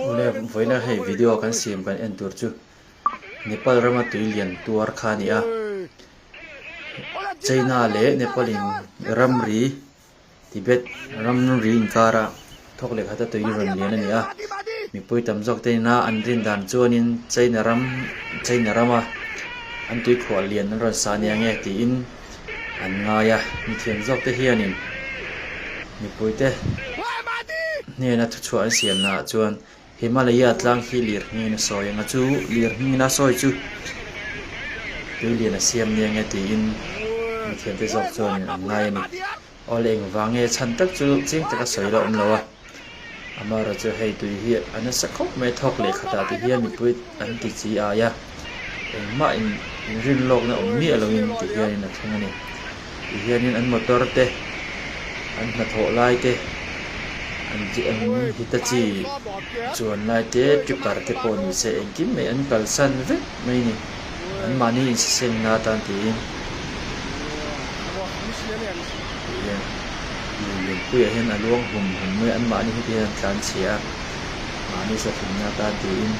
Ule vawiina hei video kan siam kan en tur chu Nepal rama tui lian tuar kha ni a. China leh Nepal in ramri Tibet ramri in kar a thawk leh khata tui rawn lian a ni a. Mipui tam zawk te nina an rin dan chuan in China ram China rama an tui khuah lian an rawn sa nia nge tiin an ngai a, mithiam zawkte hianin mipuite hnena thuchhuah an siam naah chuan Himalaya tlang hi lirhngiina sawi anga chu lirhngiina sawi chu tui liana siam nia nge tiin mithiamte zawk chuanin an ngai a ni. Aw le engvang nge chhan tak chu chiang taka sawi la awm lo a, Amara chu hei tui hi a nasa khawp mai a thawk leh khatah te hian mipui an ti chi ai a, engmah in in rin lawk na awm miah lo in ti hian in a thleng a ni. Ti hian in an motor te an hnathawh lai te, an Hitachi chuan lai te, tripper te pawh ni se engkim mai an kalsan vek mai a ni. an mahni insistemna atan tiin Lianpuia hian a luang hum hum mai an mahni heti hian an tlan chhia mahni sa thimna atan tiin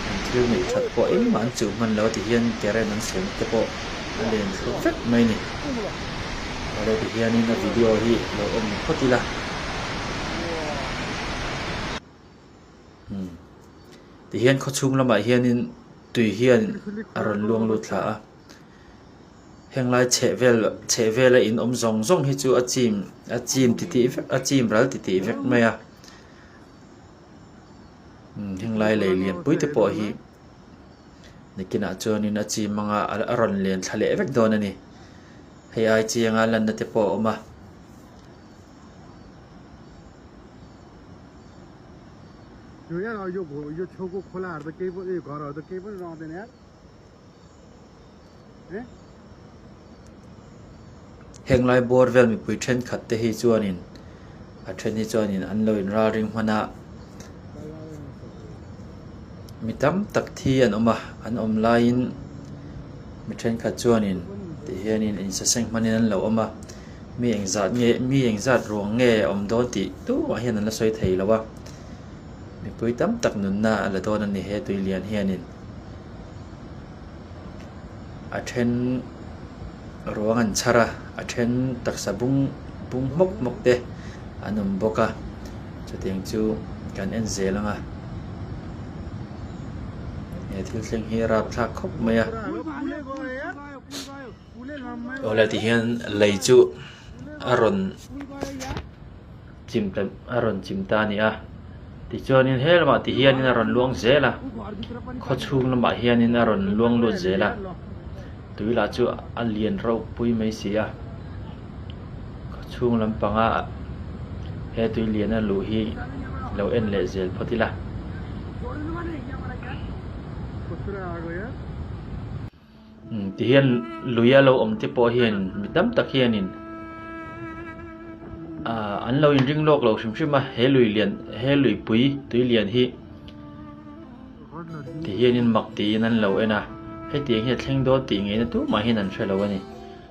an thil ngaih that pawh engmah an chuh hman lo tihian current an siam te pawh a len thlawp vek mai ni awle tihianin a video hi lo awm phawt ila. Umm. Tihian khaw chhung lamah hianin tui hian a rawn luang lut thla a. Heng lai chheh vel chheh vela in awm zawng zawng hi chu a chim a chim ti tih vek a chim ral ti tih vek mai a. Umm heng lai lei lian pui te pawh hi nikinah chuanin a chim mang a a rawn len thla leh vek dawn a ni. Hei ai chianga lanna te pawh a awm a. Henglai bawr vel mipui thenkhat te hi chuanin a then hi chuanin an lo in ralring hman a mi tam tak thi an awm a an awm laiin mi thenkhat chuanin tih hianin insaseng hmanin an lo awm a. mi engzat nge mi engzat ruang nge a awm dawn tih tumah hian an la sawi thei lo a mipui tam tak nunna a la dawn a ni he tui lian hianin a then ruang an chhar a a then taksa bung bung hmawk hmawk te an awm bawk a chutiang chu kan en zel ang a he thil thleng hi a rap thlak khawp mai a. aw le ti hian lei chu a rawn chim ta a rawn chim ta a ni a tichuanin he lamah ti hian a rawn luang zel a khaw chhung lamah hian a rawn luang lut zel a tui lah chu a lian rauh pui mai si a khaw chhung lam panga he tui lian a luh hi lo en leh zel phawt ila. Tihian luia lo awm te pawh hian mi tam tak hianin ahh an lo in ring lawk lo hrim hrim a he lui lian he luipui tui lian hi tihianin mak tiin an lo en a hetiang hian thleng dawn tih ngei na tur mah hian an hre lo a ni.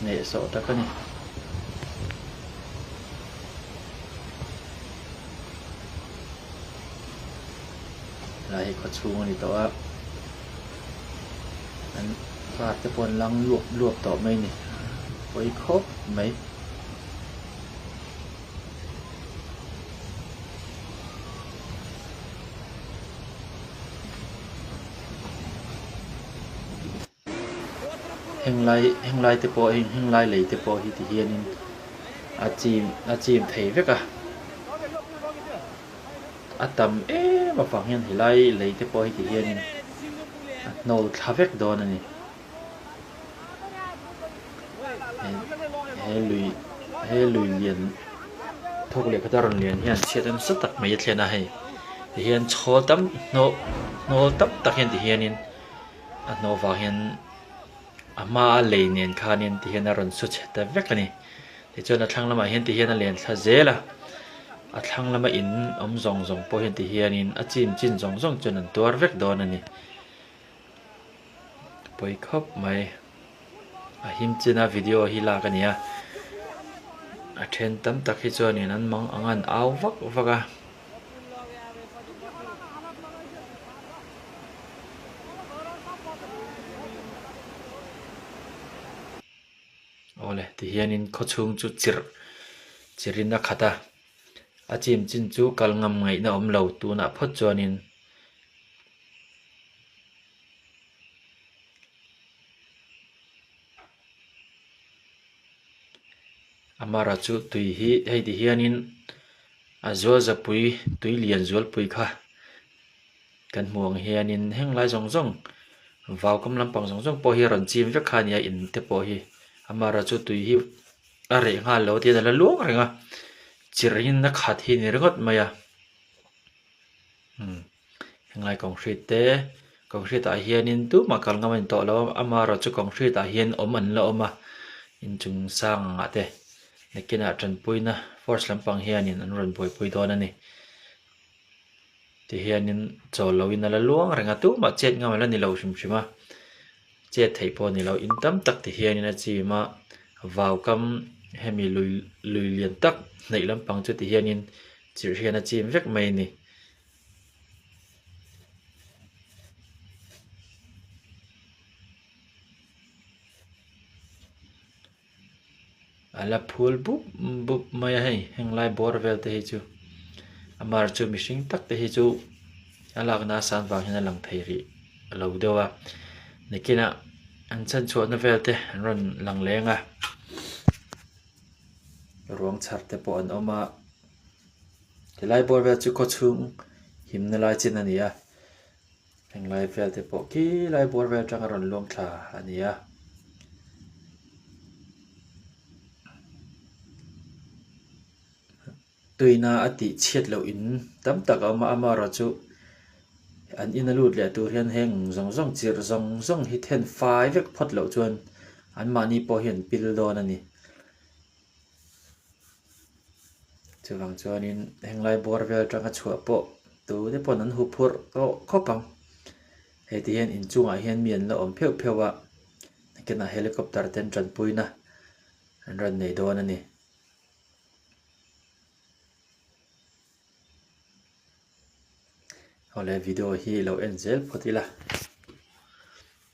Neh sawh tak a ni. Helai hi khaw chhung a ni tawh a. An car te pawh an lang luap luap tawh mai ni. Pawi khawp mai. Henglai henglai te pawh heng henglai lei te pawh hi ti hianin a chim a chim thei vek a. A tam em avang hian helai lei te pawh hi ti hianin a hnawl thla vek dawn a ni. He lui he lui lian thawk leh khata rawn lian hian chhiat em sa tak mai a thlen a hei. Tihian chhawl tam hnaw hnawl tam tak hian ti hianin A hnu vang hian a hma a lei nen khanin ti hian a rawn saw chhe ta vek a ni. Tichuan a thlang lamah hian ti hian a len thla zel a. A thlang lama in awm zawng zawng pawh hian ti hianin a chim chin zawng zawng chuan an tuar vek dawn a ni. Pawi khawp mai. A him chin a video hi lak a nia. A then tam tak hi chuanin an mang a ngan au vak vak a. Awle tihianin khawchhung chu chir chirin a khat a. A chim chin chu kal ngam ngaihna awm lo tunah phawt chuanin. Amara chu tui hi hei ti hianin a zualzapui tui lian zualpui kha kan hmuh ang hianin heng lai zawng zawng vau kam lampang zawng zawng pawh hi a rawn chim vek kha a nia in te pawh hi amara chu tui hi a reh nghal lo tia a la luang reng a chirh in a khat hi a ni ringawt mai a umm. Helai concrete te concrete ah hianin tumah kal ngam a ni tawh lo a ama erawh chu concrete ah hian awm an la awm a inchung sang ang ah te nakinah tanpuina force lampang hianin an rawn buaipui dawn a ni tihianin chaw lo in a la luang reng a tumah chet ngam a la ni lo hrim hrim a chet theih pawh a ni lo in tam tak te hianin a chim a vau kam hemi lui lui lian tak hnaih lampang chu tihianin chirh hian a chim vek mai a ni. a la phul bup bup mai a hei heng lai bawr vel te hi chu a mar chu mihring tak te hi chu a lak na a san vang hian a lang thei rih a lo deuh a nikin ah an chhan chhuah na vel te an rawn lang leng a ruang chhar te pawh an awm a. He lai bawr vel chu khawchhung himna lai chin a ni a, heng lai vel te pawh khi lai bawr vel atanga rawn luang thla a ni a. Tuihna a tih chhiat loh in tam tak a awm a, ama erawh chu an in a lut leh tur hian heng zawng zawng chirh zawng zawng hi then fai vek phawt loh chuan an mahni pawh hian an pil dawn a ni. Chuvang chuanin heng lai bawr vel atanga chhuah pawh tute pawn an hu phurh tawh khawp ang. Hei ti hian inchungah hian mi an la awm pheuh pheuh a, nakinah helicopter ten tanpuina an rawn nei dawn a ni. Hawle video hi lo en zel phawt ila.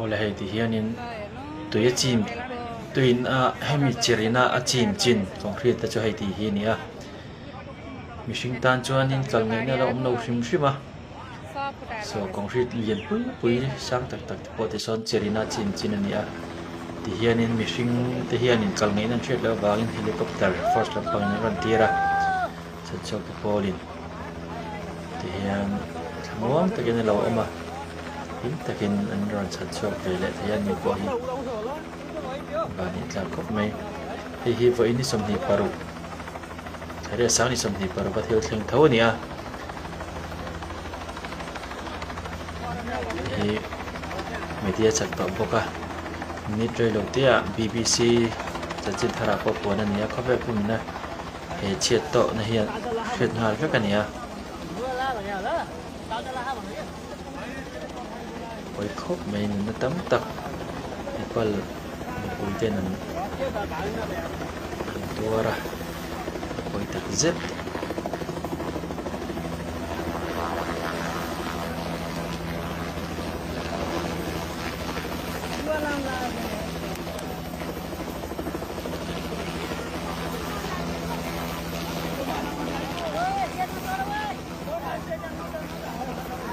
Aw le hei ti hianin tui a chim tuiin a hemi chirina a chim chin concrete te chu hei ti hi a ni a. mihring tan chuanin tlal ngei na ala awm lo hrim hrim a so concrete lian pui pui sang tak tak te pawh te sawn chair ina chin chin a ni a ti hianin mihring te hianin tlal ngei na an hriat loh avangin helicopter force lampang in an rawn tir a chhan chhuak te pawl in ti hian tha nuam tak in alo awm a hlim tak in an rawn chhan chhuak ve leh thei a ni pawh hi va ni tlar khawp mai hei hi vawiin ni sawmhnih paruk. Reh sang ni sawmhnih par va thil thleng tho a ni a. Hi media chat tawh bawk a. Minute rei lo te ah BBC chanchin thar ah pawh puan a ni a. Khawvel pum in a he chhiat tawh na hian hriat nghal vek a ni a. Hawi khawp mai nunna tam tak Nepal mipui ten an rawn tuar a, hawi tak zet.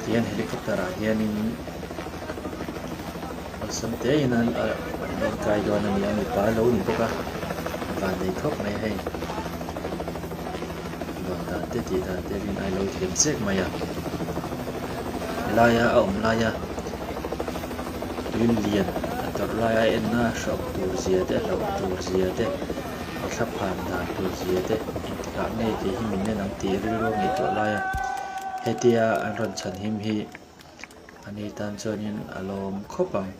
Tihian helicopter ah hianin awlsam tein a rawn kai dawn a ni a mipa lo ni bawk a van nei thawk mai hei luan dan te tih dan te rin ailo thiam zek mai a helaia a awm laia tui lian a tawrh laia a enna a hrawk tur zia te a hlauh tur zia te. a thla phan dan tur zia deuh hnah ngei tih hi min en ang tih i rilru a ngaih tuah lai a, hetia an rawn chhan him hi a ni tan chuanin a lawm khawp ang.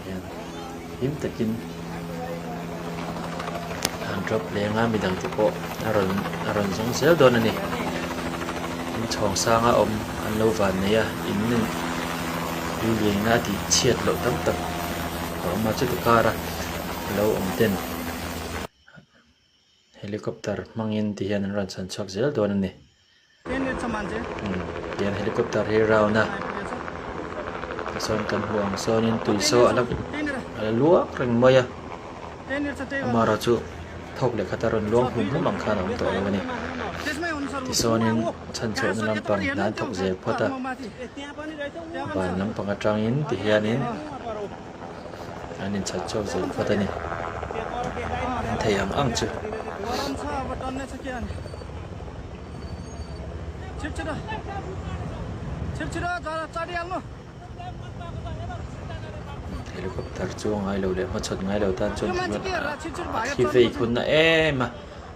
Heng him takin. An drop leng a midang te pawh a rawn a rawn zawng zel dawn a ni in chhawng sang a awm an lo van nei a in lui luihna a tih chhiat loh tam tak a awm a chuti kara lo awm ten-- Helicopter hmangin ti hian an rawn chhan chhuak zel dawn a ni. Tihian helicopter hi round a tichuan kan hmuh ang sawnin tuisaw a la a la luang reng mai a amah erawh chu thawk leh khat a rawn luang hum hum ang khan a awm tawh lo a ni tisaawnin chhanchhuahna lampang hlan thawk zel phawt a van lampang atangin ti hianin. an inchhat chauh zel phawt a ni. An thei ang ang chu. Helicopter chu a ngailo leh hmachhawn ngailo tan chuan a thi vei khun na em a.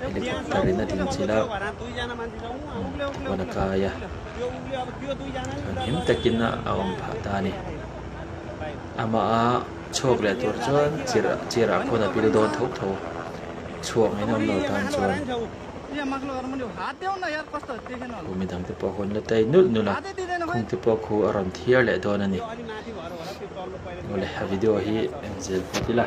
helicopter in a ding chilh a huan a kai a thianghlim takin a awm phah ta a ni amaha chhuak leh tur chuan chair chair ah khawn a bil dawn tho tho chhuak ngei na awm lo tan chuan khu mi dangte pawh hun la tai nulh nulh a khum te pawh khu a rawn thir leh dawn a ni awle a video hi engzel phawt ila.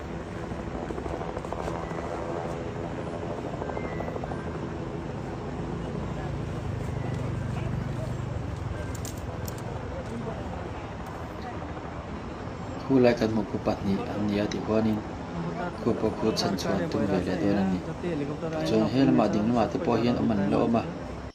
Khulai kan hmuh phu pahnih an ni a tih huanin khu pawh khu chhan chuan tum ve leh dawn a ni. Chuan he lamah ding lamah te pawh hian awm an la awm a.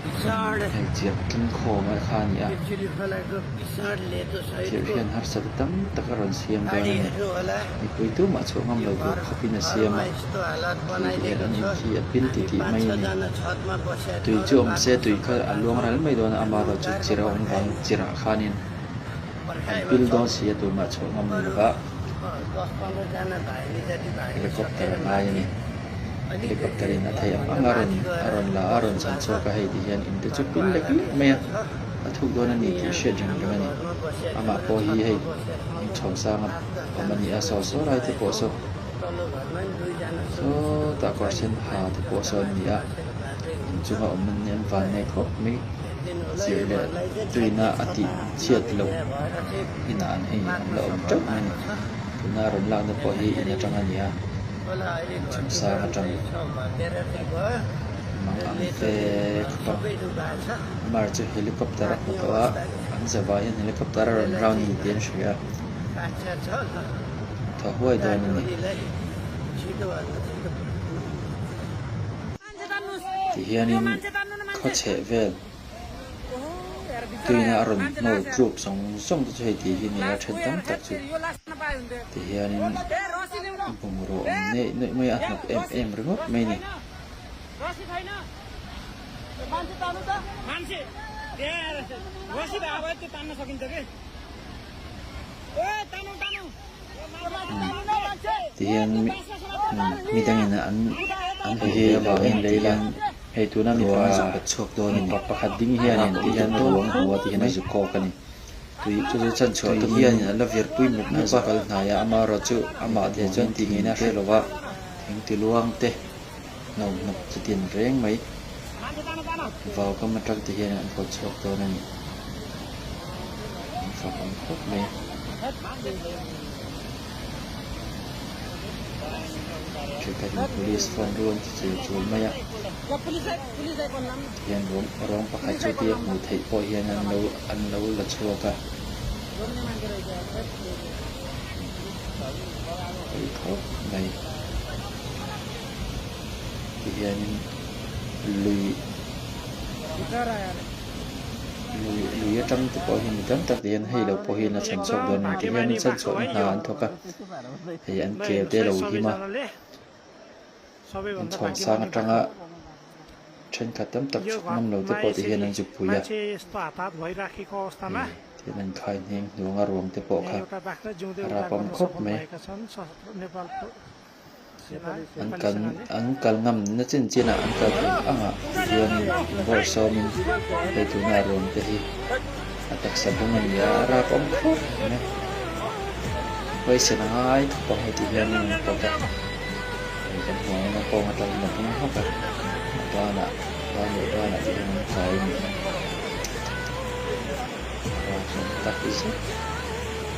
Hmeichhiat tling khawm a kha a ni a, thir hian harsat tam tak a rawn siam dawn a ni. Mipui tumah chhuah ngam lo tur khawpin a siam a, thir te hian an in khi a pil ti tih mai a ni. Tui chu awm se tui kha a luang rel mai dawn a, amarawh chu chirh a awm vang, chirh ah khanin an pil dawn si a, tunah chhuah ngam lo lovah. Helicopter a ngai a ni. Helicopter in a thei ang ang a, a rawn la a, rawn chhan chhuak a, hei ti hian in te chu pil lek lek mai a, a thuk dawn a ni tih hriat reng reng a ni. Amah pawh hi hei in chho sang a awm a ni a, saw saw lai te pawh saw saw tah kawr sen ha te pawh saw an ni a, in chung a awm hi an van ngei khawp mai. Chirh leh tuina a tih chhiat loh. Inah an hei ang la awm teuh mai a, tuna rawn lakna pawh hi in atang a nia, Chhungsang atang mang ang te khawpang Amar chu helicopter a hmu tawh a, an ze vai hian helicopter a rawn rau ni tih an hria a, a tha huai dawn a ni tihian in khaw chheh vel. Tuiin a rawn hmawr tlûk zawng zawng te chu hei tih hi a ni a, a ṭhen tam tak chu ti hianin bungraw awm neih neih mai a, a hnawk em em ringawt mai a ni. tihian mi dangin an an he hi avang em lei la hei tuna mipa mipa pakhat ding hian in tihian ka ruang a hua tihin a zuk kawk a ni tui chu chu chhan chhuah tum hian in an la vir pui mup mup a kal hnai a ama erawh chu amah te chuan tih ngei na a hre lo a thengtiluang te. Hno hnawk chutiang reng mai vau kam atangte hian an pawt chhuak dawn a ni. An fak ang khawp mai. Thiltahna police phone ruang chu chei chul mai a. Hian rawng rawng pakhat chu tia hmuh theih pawh hian an lo an lo la chhuak a. Pawi khawp mai. tih hianin lui lui lui atang te pawh hian mi tam tak hian hei lo pawh hian a chhan chhuak dawn ang tih hian chhan chhuakna hna an thawk a hei an ker te lo him a inchhawng sang atanga thenkhat tam tak chhuk ngam lo te pawh tih hian an zupui a thian a inkhai ngheng hnuanga ruang te pawh kha a rap awm khawp mai. An kal ngam na chin chin ah an kal thei ang ah chuan in bawrh sawm in hei tuna a ruam te hi a taksa bung a ni a, a rap awm khawp em em. Khawi sen a ngai thawk pawng hei tih hian in pawt a, hei kan hmuh ang in a kawng atal in a bung hawk a, a ban ah vai leh ban ah te hian an kai a ni a, a rap zawng tak zet.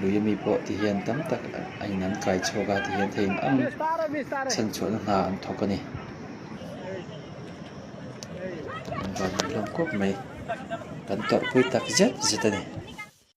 Luyami pawh ti hian tam tak a in an kai chhuak a ti hian thei in ang chhen chhuahna hna an thawk a ni. An van an hlawm kawp mai. Kan tawrhpui tak zet zet a ni.